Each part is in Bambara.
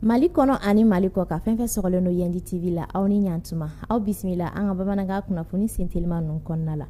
mali kɔnɔ ani mali kɔkan fɛn fɛn sɔgɔlen don yɛndi tv la aw ni ɲantuma aw bisimila an ka bamanankan kunnafoni sentelima ninnu kɔnɔna la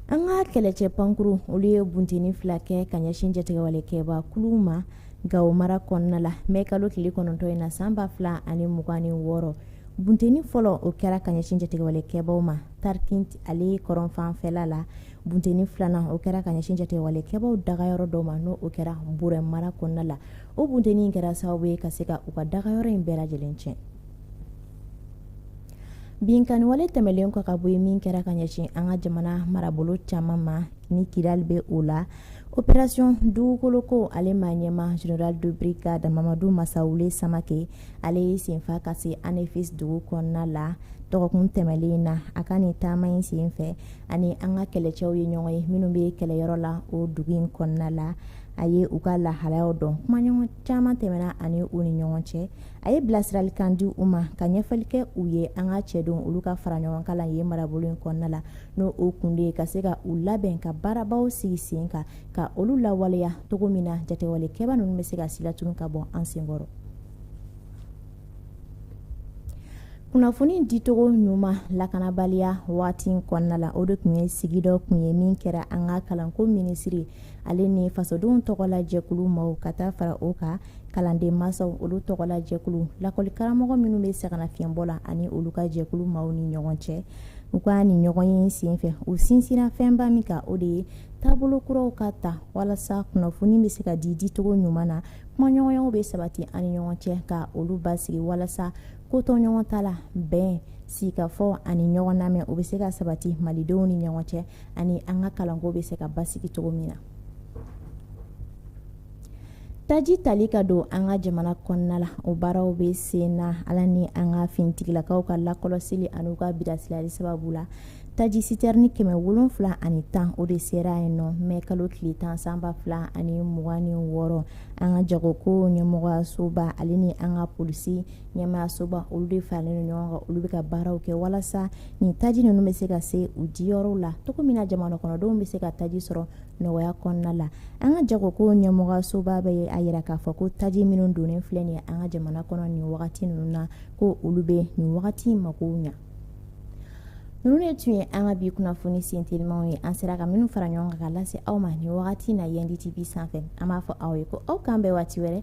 an ka kɛlɛcɛ pankurun olu ye bunteni fila kɛ ka ɲɛsin jatigɛwale kɛba kuluw ma gawo mara kɔnɔna la mɛ kalo tile kɔnɔntɔn in na san ba fila ani mugan ni wɔɔrɔ Bunteni fɔlɔ o kɛra ka ɲɛsin jatigɛwale kɛbaw ma tarikinti ale kɔrɔnfanfɛla la bunteni filanan o kɛra ka ɲɛsin jatigɛwale kɛbaw dagayɔrɔ dɔ ma n'o o kɛra burɛmu mara kɔnɔna la o bunteni kɛra sababu ye ka se ka u ka dagayɔrɔ in bɛɛ lajɛlen tiɲɛ binkanniwale tɛmɛnlen kɔ ka bɔ yen min kɛra ka ɲɛsin an ka jamana marabolo caman ma ni kidali bɛ o la operasiɔn dugukoloko ale maa ɲɛmaa général de brigade mamadu masawule samakɛ ale ye senfa ka se anefisi dugu kɔnɔna la dɔgɔkun tɛmɛnlen in na a ka nin taama in sen fɛ a ni an ka kɛlɛcɛw ye ɲɔgɔn ye minnu bɛ kɛlɛyɔrɔ la o dugu in kɔnɔna la a ye u ka lahalayaw dɔn kumaɲɔgɔn caman tɛmɛna a ni u ni ɲɔgɔn cɛ a ye bilasiralikan di u ma ka ɲɛfɔli kɛ u ye an ka cɛdenw olu ka fara ɲɔgɔn kan ye marabolo in kɔnɔna la n'o o kun de ye ka se ka u labɛn ka baarabaw sigi sen kan ka olu lawaleya cogo min na jatigɛwale kɛba ninnu bɛ se ka silatunu ka bɔ an senkɔrɔ kunnafoni dicogo ɲuman lakanabaliya waati kɔnɔna la o de tun ye sigi dɔ kun ye min kɛra an ka kalanko minisiri ale ni fasodenw tɔgɔla jɛkulu maaw ka taa fara o kan kalanden masaw olu tɔgɔla jɛkulu lakɔlikaramɔgɔ minnu bɛ sɛgɛnnafiɲɛbɔ la ani olu ka jɛkulu maaw ni ɲɔgɔn cɛ u ka nin ɲɔgɔnye senfɛ u sinsinna fɛnba min kan o de ye taabolo kuraw ka ta walasa kunnafoni bɛ se ka di dicogo ɲuman na kumaɲɔgɔnyaw bɛ sabati an ni ɲɔgɔn cɛ ka olu basigi walasa kotoɲɔgɔntala bɛn sigikafɔ ani ɲɔgɔn lamɛn o bɛ se ka sabati malidenw ni ɲɔgɔn cɛ ani an ka kalanko bɛ se ka basigi cogo min na taji tali ka don an ka jamana kɔnɔna la o baaraw bɛ sen na ala ni an ka finitigilakaw ka lakɔlɔsili an'u ka bilasirali sababu la taji sitɛrini kɛmɛ wolonfila ani tan o de sera yen nɔ mɛ kalo tile tan san ba fila ani mugan ni wɔɔrɔ an ka jagoko ɲɛmɔgɔyasoba ale ni an ka polisi ɲɛmɔgɔyasoba olu de faralen don ɲɔgɔn kan olu bɛ ka baaraw kɛ walasa nin taji ninnu bɛ se ka se u diyɔrɔw la cogo min na jamana kɔnɔdenw bɛ se ka taji sɔrɔ nɔgɔya kɔnɔna la an ka jagoko ɲɛmɔgɔyasoba bɛ a yira k'a fɔ ko taji minnu donnen filɛ nin ye an ka jamana kɔnɔ nin wagati ninnu na ko olu bɛ nin wagati makow ɲa ninnu de tun ye an ka bi kunnafoni sentelimaw ye an sera ka minnu fara ɲɔgɔn kan ka lase aw ma nin wagati na yɛndi tv sanfɛ an b'a fɔ aw ye ko aw k'an bɛn waati wɛrɛ